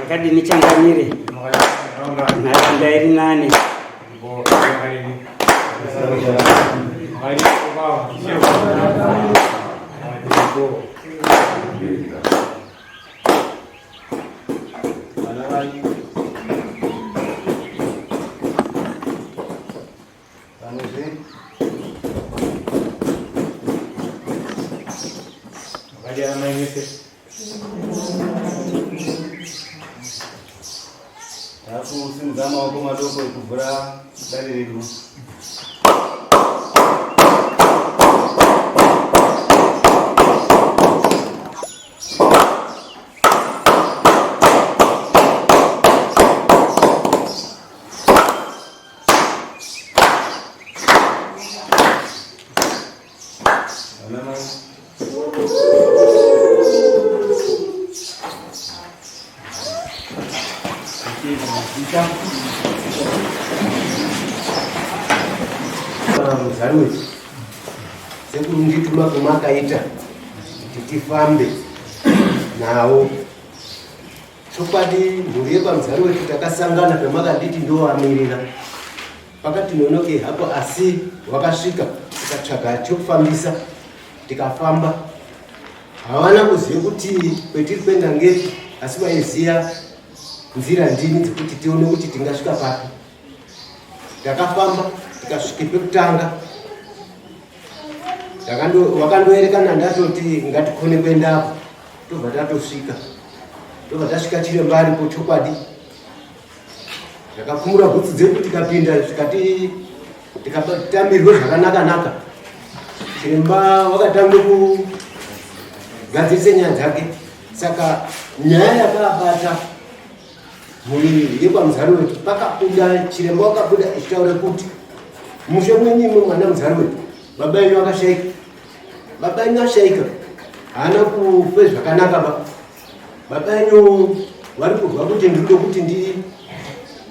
makadini changamire nharaunda iri nani Thank you. Vanozve Maria Mãe Messias. Takusimudza maoko madoko ekuvhura dare redu. Muzaruri sekuru mundituma kwemakaita kuti tifambe nawo Chokwadi mhuri yepaMuzari wedu takasangana pamakanditi ndovamirira pakati nonokei hapo asi wakasvika tikatsvaga chokufambisa tikafamba havana kuziva kuti kwetiri kuenda ngeti asi vaiziva nzira ndini dzekuti tione kuti tingasvika papi Ndakafamba ndikasvika pekutanga wakandoerekana ndatoti ngatikone kuendapo tobva tatosvika tobva tasvika chiri mbari po chokwadi ndakakumura bhutsu dzedu tikapinda zvikati tikatamirwe zvakanaka naka chiremba wakatanga kugadzirisa nyaya dzake saka nyaya yakabata muviri yekwaMuzari wedu pakabuda chiremba wakabuda ichitaura kuti mushe mwenyu imwe mwana muzari wedu baba enyu akashaika baba enyu ashaika haana kufe zvakanaka ba baba enyu vari kurwa kuti ndiri kuti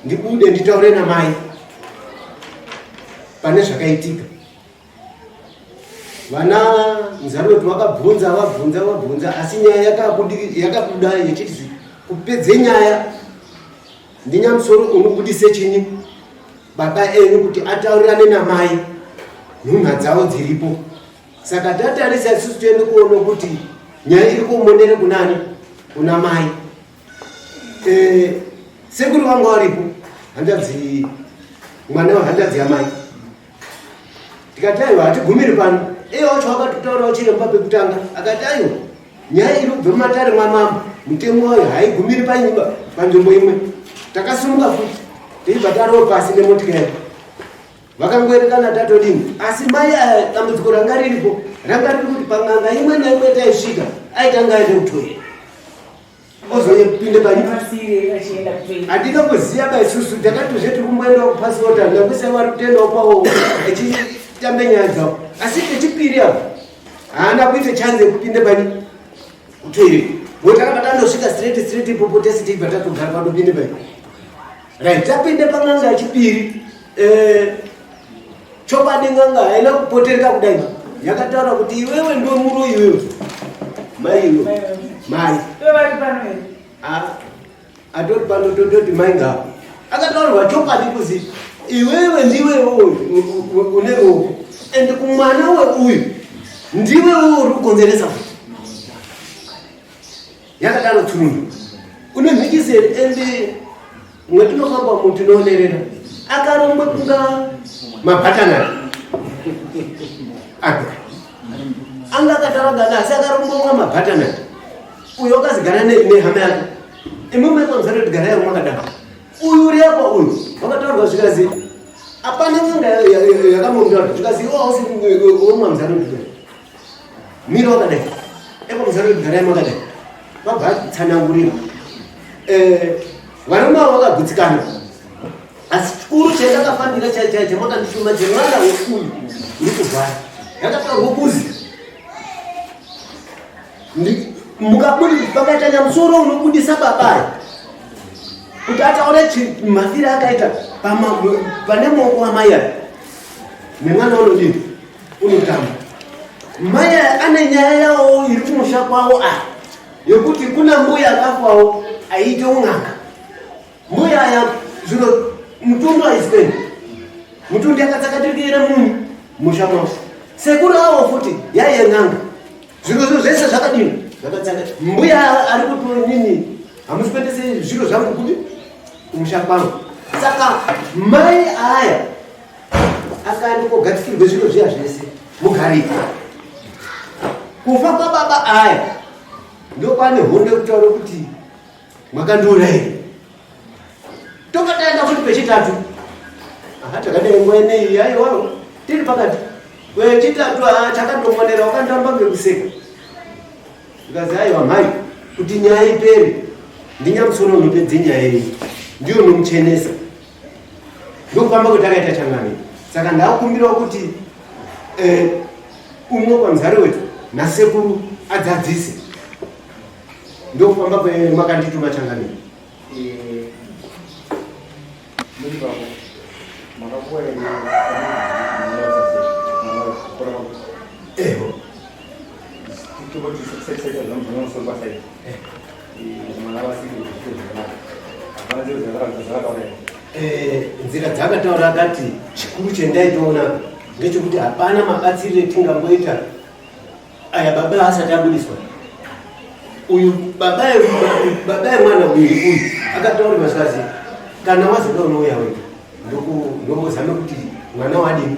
ndibude nditaure namai pane zvakaitika vana nzaroti vakabvunza vabvunza vabvunza asi nyaya yakabuda yechiti kupedze nyaya ndinyamusoro unobudise chini baba enyu kuti ataurirane namai nhunha dzavo dziripo saka tatarisa isusu tiende kuona kuti nyaya iri kumonere kunani kuna mai eh, sekuri vanga varipo hanzvadzi mwana wehanzvadzi yamai ndikati aiwa hatigumiri pano iye wacho wakatotaurawo chiremba pekutanga akati aiwa nyaya iri kubva mumatare mwamama mutemo wayo haigumiri panyumba panzvimbo imwe takasumuka futi teibva tarowo pasi nemotikari vakangoerekana tatodini asi mai aya dambudziko ranga riripo ranga riri kuti pang'anga imwe naimwe taisvika aitanga aende kutoera handina kuziva ba isusu takatozve tiri kumboenda kupasota ndakusa vari kutoendawo kwavo achitambe nyaya dzavo asi kechipiri avo haana kuita chanze yekupinda pani kutoiri bo takabva tanosvika straight straight ipopo tese tibva tatogara panopinda pani Right, tapinde pan'anga yechipiri. Eh, chokwadi n'anga haina kupotereka kudai. Yakataura kuti iwewe ndiwe muroyi iwewe. Mai iwe. Mai. Iwe vari pano here? Ah. Atori pano tototi mai ngavo. Akataurwa chokwadi kuzi iwewe ndiwe une roho and kumwana we uyu ndiwe uri kukonzeresa Yakadaro Twin. Une mhikizeri ende mwetinofamba mu tinoonerera akaromba kunga mabhatanari aka anga akataragana asi akaromba kunga mabhatanari uyo akazigana nehama yake imwimwe kwamzatoti gara yaro mwakadaro uyu uri apa uyu wakataurwa zvikazi apana nyanga yakamomdaro zvikazi iwo ausi womwamzatoti mira wakadai ekwamuzaro gara makadai vabva tsanangurira eh, varume avo vakagutsikana asi chikuru chandakafanira chamakandishuma chemwana wekuyu uri kurwara ndakataurwa kuzi mukabudi pakaita nyamusoro unobudisa babayo kuti ataura mafiro akaita pane maoko amai aya nemwana unodini unotamba mai ane nyaya yawo iri kumusha kwavo aya yekuti kuna mbuya akafawo aiite un'anga mbuya aya zvino mutundu aisipeni mutundu yakatsakatirikira munhu musha mwavo sekuru avo futi yaiye n'anga zviro zvo zvese zvakadini zvakatsaka mbuya ari kuti nini hamusi kuendese zviro zvangu kuti kumusha kwangu saka mai aya akani kogatikirwe zviro zviya zvese mugariko kufa kwababa aya ndokwane hondo yekutaura kuti mwakandiona here tokataenda kuti pechitatu aha takadai nguva ineyi yaiwawo tiri pakati wechitatu haa takandomonera wakandamba ngekuseka ndikazi aiwa mhai kuti nyaya ipere ndinyamusoro unopedze nyaya iyi ndiyo nomuchenesa ndokufamba kuti akaita changani saka ndakumbirawo kuti eh, umwe kwamuzari wetu nasekuru adzadzise ndokufamba kwemakandituma changani eh, eho Eh, nzira dzakataura akati chikuru chendaitoona ngechekuti hapana mabatsirire tingangoita aya baba asati abudiswa uyu baba yemwana uyu uyu akataura mazikazi kana wazoda unouya wega ndombozame kuti mwana wadini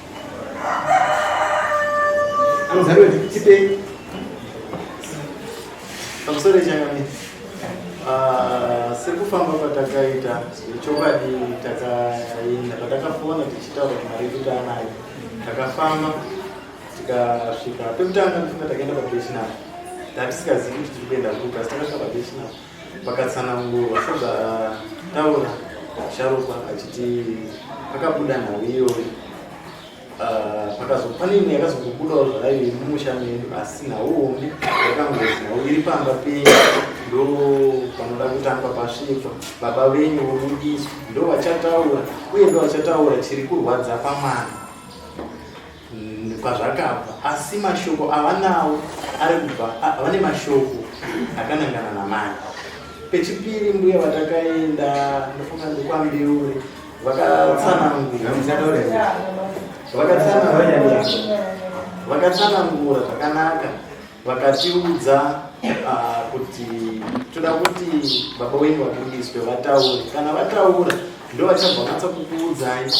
Anozarwa chipei. Pamusoro chanyoni. Ah, sekufamba kwatakaita chokwadi takaenda patakafona tichitaura kuti mari yekuti anayo takafamba tikasvika pekutanga ndifunga takaenda pabetinari tatisingazivi kuti tiri kuenda kupi asi takasvika pabetinari Pakatsanangurwa sezvataura Sharukwa achiti pakabuda nhau iyoyo ah, pakazo pane imwe yakazokubudawo zvarayo yemumusha medu asi nhau hombe yakangozi nhau iri pamba penyu ndo panoda kutangwa pasvitswa baba venyu vobudiswa ndo vachataura uye ndo vachataura chiri kurwadza pamwana kwazvakabva asi mashoko avanawo ari kubva vane mashoko akanangana namai pechipiri mbuya vatakaenda ndofunga ndikwambiure vakatsanangura zvakanaka vakatiudza ah, kuti toda kuti baba wenyu vabudiswe vataure kana vataura ndovachabva vanatsa kukuudzai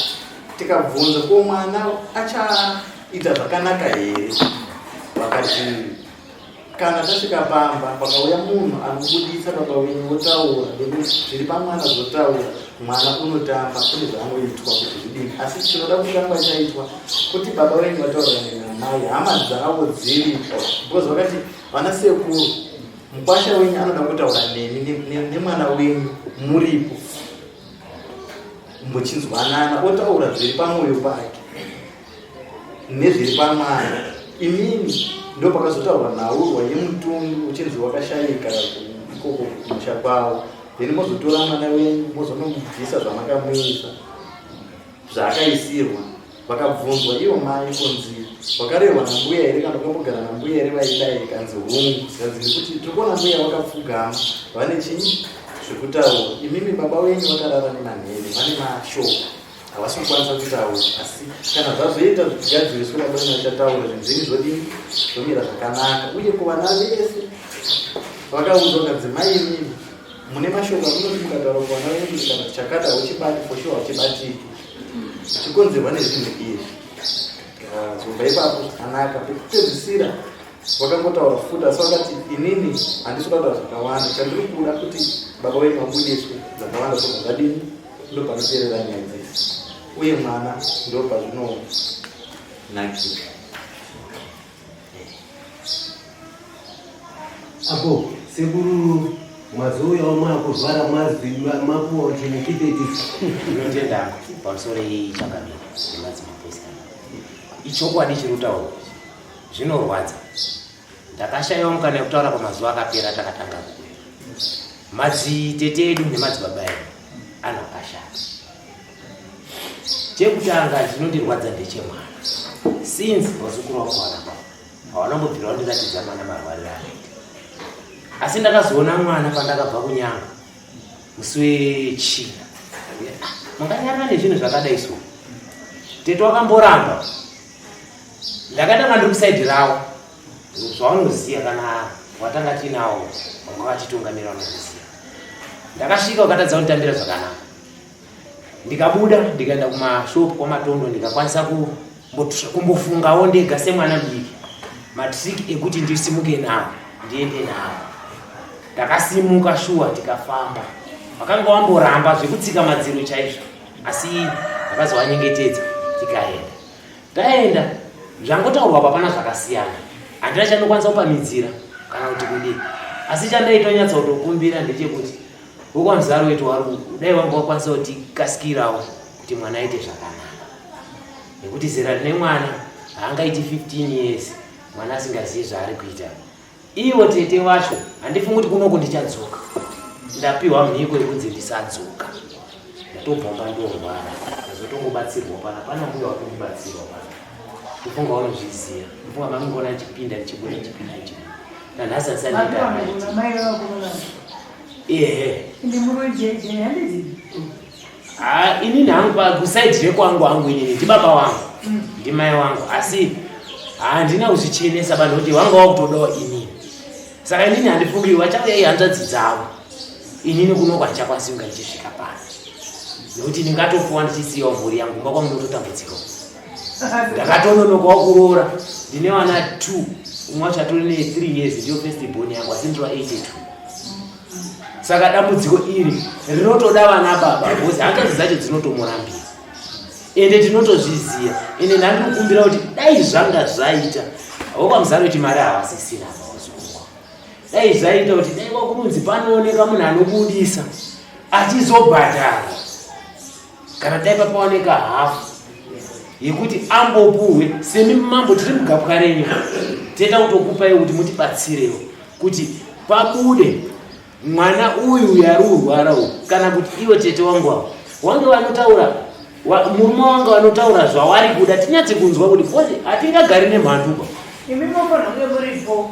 tikabvunza ko mwana achaita zvakanaka here vakati kana tasvika pamba pakauya munhu anobudisa baba wenyu votaura nekuti zviri pamwana zvotaura mwana unotamba kune zvaanoitwa kuti zvidini asi chinoda kutamba chaitwa kuti baba wenyu vataura nenamai hama dzavo dziripo because vakati vana sekuru mukwasha wenyu anoda kutaura nemi nemwana wenyu muripo kumbochinzwanana otaura zviri pamwoyo pake nezviri pamwana imini ndo pakazotaurwa nhaurwa yemutundu uchinzi wakashayika ikoko kumusha kwavo then mozotora mwana wenyu mozonomubvisa zvamakamuisa zvaakaisirwa Vakabvunzwa ivo mai kunzi wakarehwa nambuya here kana ukambogara nambuya here vaidai kanzi hungu zikanzi nekuti tiri kuona mbuya vakapfugama vane chinyi zvekutaura imimi baba wenyu vakarara nemanhene vane mashoko havasi kukwanisa kutaura asi kana zvazoita zvigadziriswe baba wenyu vachataura zvinhu zvenyu zvodini zvomira zvakanaka uye kuvana vese vakaudzwa kanzi mai imimi mune mashoko amunotimuka taura kuvana venyu kana tichakata uchibati foshuwa uchibatiki zvichikonzerwa nezvinhu izvi zobva ipapo zvakanaka pekupedzisira wakangotaura futi asi wakati inini handisi kutaura zvakawanda chandiri kuda kuti baba wenyu vabudiswe dzakawanda zvobva zvadini ndo panoterera nyaya dzese uye mwana ndo pazvinonakira Apo sekuru mazouya omakuzvara mazwi mapuwa kuti mukipetisi inotenda pamusoro yei chakamira nemadzimapesana ichokwadi chiri kutaurwa zvinorwadza ndakashaiwa mukana yekutaura pamazuva akapera takatanga kuuya madzitete edu nemadzibaba edu anokashata chekutanga chinondirwadza ndechemwana since vazukuru vangu vanaba havana mbobvira vandiratidza mwana marwariro anoita asi ndakazoona mwana pandakabva kunyanga musi wechina manganyarana nezvinhu zvakadai so tete wakamboramba ndakaita nga ndiri kusaidi ravo zvaunoziva kana watanga tiinawo vanga vachitungamira vanoziva ndakasvika ukatadza kunditambira zvakanaka ndikabuda ndikaenda kumashop kwamatondo ndikakwanisa kumbofungawo ndega semwana mudiki matrick ekuti ndisimuke nawo ndiende nawo ndakasimuka shuwa tikafamba wakanga wamboramba zvekutsika madziro chaizvo asi akazovanyengetedza tikaenda taenda zvangotaurwa papana zvakasiyana handina chandokwanisa kupamidzira kana kuti kudii asi chandaitonyatsa kutokumbira ndechekuti wekwanzi aroiti warungu dai wanga wakwanisa kuti kasikirawo kuti mwana aite zvakanaka nekuti zera rine mwana haangaiti 15 years mwana asingazivi zvaari kuita ivo tete vacho handifungi kuti kunoku ndichadzoka ndapiwa mhiko yekunzi ndisadzoka ndatobvamba ndorwara azotongobatsirwa pana pana mbuya wakundibatsirwa pana kufunga wanozviziva mfunga makungona chipinda ndichibuda chipinda chibuda nanhasi asanditaamai ehe ende muroyi jeje handizi ha inini hangu pakusaidi rekwangu hangu inini ndibaba wangu mm. ndimai wangu asi handina kuzvichenesa vanhu kuti wanga wakutodawo inini saka inini handifungi vachauya ihanzvadzi dzavo inini kuno kwacha kwasinga ichisvika pano nekuti ndingatofuwa ndichisiyawo mhuri yangu mba kwangu ndototambudzikawo ndakatononokawo kuroora ndine vana two umwe wacho atori ne three years ndiyo first born yangu asi ndiri vaeighty two saka dambudziko iri rinotoda vana baba bcause hanzvadzi dzacho dzinotomurambira ende tinotozviziva ende ndandikukumbira kuti dai zvanga zvaita vokwamuzaro kuti mari havasisina vaozukwa dai zvaita kuti dai kwakurunzi panooneka munhu anobudisa achizobhadhara kana dai papaoneka hafu yekuti ambopuhwe semi mambo tiri mugapwa renyu tenda kutokupai kuti mutibatsirewo kuti pabude mwana uyu uyu ari urwara uyu kana kuti iwe tete wangu avo wange vanotaura murume wange vanotaura zvawari kuda tinyatse kunzwa kuti hatingagari nemhanduka imi mofanha kunge muripo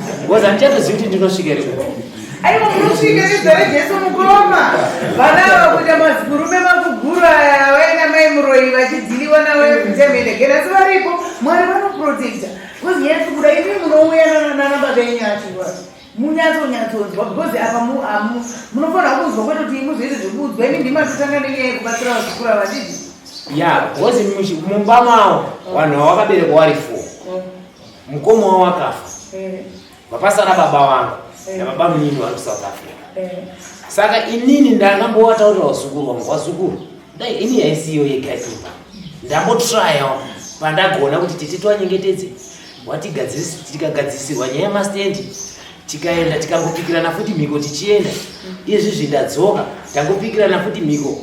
Because handichatozivi kuti ndinosvika here kuko. Aiwa munosvika nezita reJesu mukoma. Vana ava kuita mazigurume makuguru aya vaina mai muroyi vachidhiliwa navo vekutemene gena asi varipo Mwari vanoprotecta. Because yes kuda imi munouya nana baba enyu achirwa. Munyatso nyatsonzwa because apa mu amu munofanira kunzwa kwete kuti muzoita zvekuudzwa imi ndima totanga nenyaya yekubatsira vazukura vachidhi. Yeah, because mumba mawo vanhu vawakaberekwa vari four. Mukoma wavo akafa eh. vapasara baba vangu eh. nababa munini vari kusouth africa eh. saka inini ndangambowataurira vazukuru vangu vazukuru dai ini yaisiyo yegaipa ndambotryawo pandagona kuti tete twanyengetedze watigadzisirwa nyaya yemastendi tikaenda tikangopikirana futi mhiko tichienda izvi zvindadzoka tangopikirana futi mhiko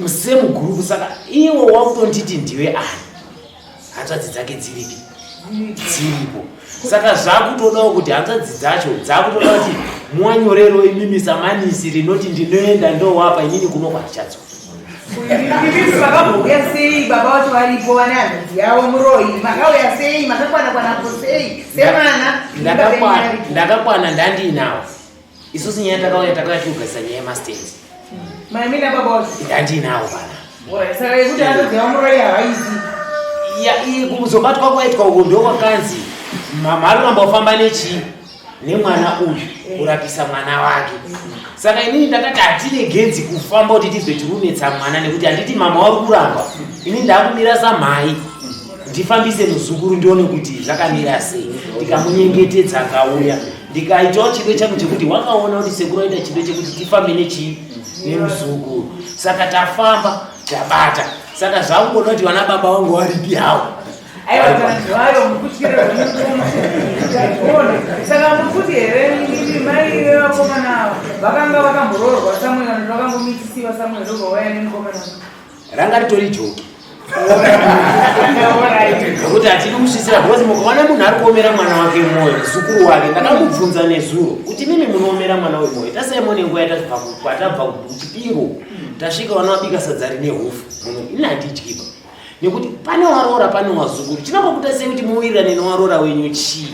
semuguruvu saka iwo wakutonditi ndiwe ani hanzvadzi dzake dziripi dziripo saka zvakutodawo kuti hanzvadzi dzacho dzakutoda kuti muwanyorero imimi samanisi rinoti ndinoenda ndowapa inini kunokwa ndichadzoka makambouya sei baba vacho varipo vane hanzvadzi yavo muroi makauya sei makakwana kwanapo sei semwana ndakakwana ndandiinawo isusu nyaya takauya takauya tiugadzisa nyaya yemastand maimina baba ndandiinawo pana saka yekuti anoziva muroyi haizi kuzobatwa kwaitwa uko ndokwakanzi mama aroramba kufamba nechii nemwana uyu kurapisa mwana wake saka inini ndakati hatine genzi kufamba kuti tibve tirunetsa mwana nekuti handiti mama wari kuramba inini ndakumira samhai ndifambise muzukuru ndione kuti zvakamira sei ndikamunyengetedza akauya ndikaitawo chido changu chekuti wakaona kuti sekuru aita chido chekuti tifambe nechii nemuzukuru saka tafamba tabata saka zvakungoda kuti vana baba vangu varipi hawo saka mukuti here mai vevakomana avo vakanga vakamboroorwa samuel vakangomitisiwa samuel ndobva waya nemukomana ranga ritori joki nekuti hatidi kusvisira because mukaona munhu ari kuomera mwana wake mwoyo zukuru wake ndakamubvunza nezuro kuti mimi munoomera mwana wemwoyo tasaimone nguva yatakwatabva kuchipingo tasvika vana vabika sadza rine hofu munhu ini handidyiba nekuti pane waroora pane wazukuru chinokokutasei kuti muwirirane newaroora wenyu chii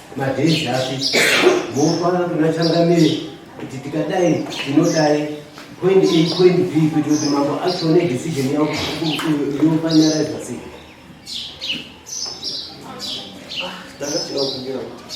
Madhezi api mofana kuna changamire kuti tikadai tinodai point A point B kuitira kuti mambo achione decision yavo yofanyarizwa sei. Ndakachira kumbira kuti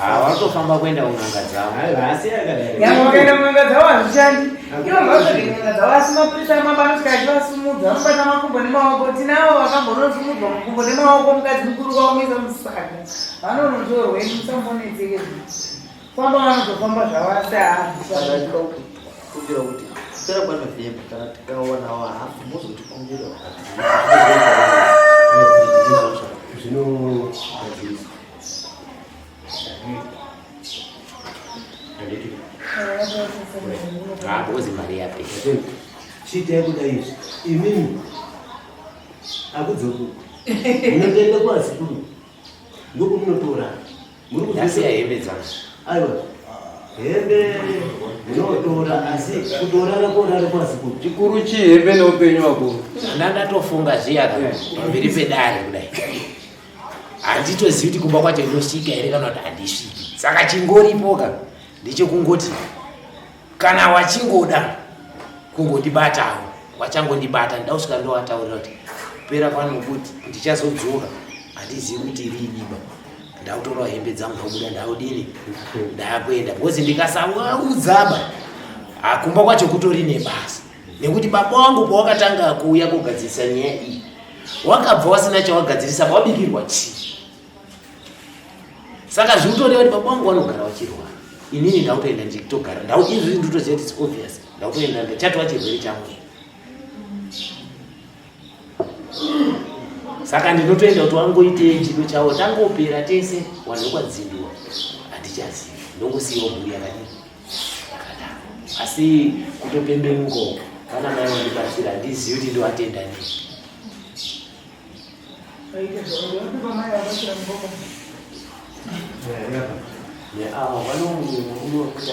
Hawatofamba kuenda kun'anga dzavo. Yamakaenda kun'anga dzavo hazvichandi. Ivo ngavasvike kun'anga dzavo asi maprisa mamba anosvika achivasumudza anobata makumbo nemaoko. Tinavo vakambonozumudzwa makumbo nemaoko mukadzi mukuru kwaumisa musaga. Vanonotorwe musambonetseke famba vanozofamba zvavo asi haazvichandi. Sera kwa Novemba kana tikaona wa hafu mozotikumbira. Zvino Ngozi mari yapi? Chita yekuda izvi. Imini akudzoku. Munoenda kwa sikuru. Ndiko munotora. Muri kudasiya hembe dzangu. Aiwa. Hembe munotora asi kutorara korara kwa sikuru. Chikuru chi hembe neupenyu wako. Ndandatofunga zviya pamberi pedare kudai. handitozivi kuti kumba kwacho ndinosvika here kana kuti handisviki saka chingoripoka ndechekungoti kana wachingoda kungondibatawo wachangondibata ndida kusvika ndowataurira kuti kupera kwano kuti ndichazodzoka handizivi kuti riiniba ndakutorawo hembe dzangu ndakubuda ndakudini ndakuenda because ndikasaudzaba akumba kwacho kutori nebasa nekuti baba wangu pawakatanga kuuya kugadzirisa nyaya iyi wakabva wasina chawagadzirisa pawabikirwa chii saka zviri kutoreva kuti baba wangu vanogara vachirwara inini ndautoenda nditogara ndau izvi nditoziva kuti it's obvious ndautoenda ndachatova chirwere changu saka ndinotoenda kuti wangoitei chido chavo tangopera tese wanhu vekwadzindiwa handichazivi ndongosiyiwa mhuri yakadii asi kutopembenuka uko kana mai vandibatsira handizivi kuti ndovatenda nei neava vanomunokuta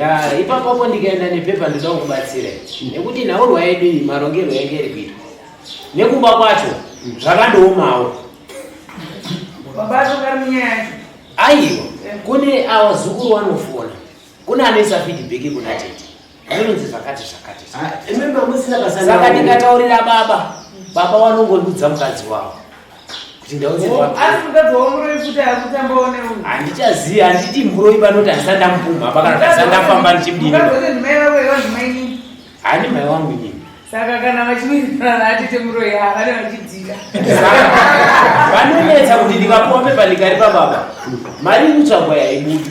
ya ipapapo ndikaenda nepepa ndoda kukubatsira nekuti nhaurwa yedu iyi marongerwo yange iri kuitwa nekumba kwacho zvakandoomawo aiwa kune awa zukuru wanofona kune anoisa feedback kuna tete anonzi zvakati zvakati ah, saka ndikataurira baba baba wanongondudza mukadzi wavo kuti ndaunzehandichazivi handiti muroi vanoti handisa ndamupumha apa kana ndasa ndafamba ndichimdini handi mai wangu nyini saka kana vachiwirirana atete muroi havane vachidzika vanonetsa kuti ndikapombe palikari pababa mari ikutsvagwa yaibudi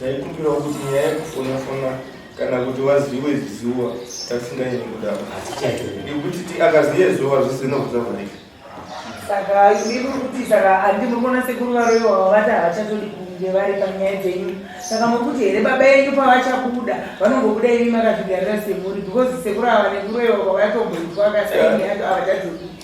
Taikumbirawo kuti nyaya yekufonafona kana kuti waziwe ziziwa tasingaini kudaro nekuti ti akaziyezowa zvese nokuzavharika saka iri kuti saka andi murikuona sekuru varoiwa vavati havachatodi kunge vari panyaya dzenyu saka mokuti here baba yenyu pavachabuda vanongobuda imi makazvigarira semuri because sekuru ava nekuroiwa kwavatomboitwa akasaini yacho havachadzoki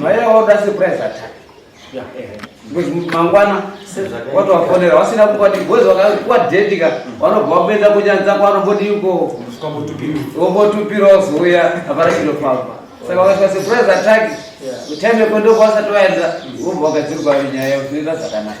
Maera wauda surprise attack. Yeah, yeah. Eh. Because mangwana watu wafonera wasina kupa ni boys wakakuwa date ka mm. wanobva wapedza kunyanza kwa wanobodi yuko. Wobotupira uya apara kilo papa. Saka wakasha surprise attack. Yeah. Utende kwendo kwasa toenda. Wobva mm. wakadzirwa nyaya yokuita zvakanaka.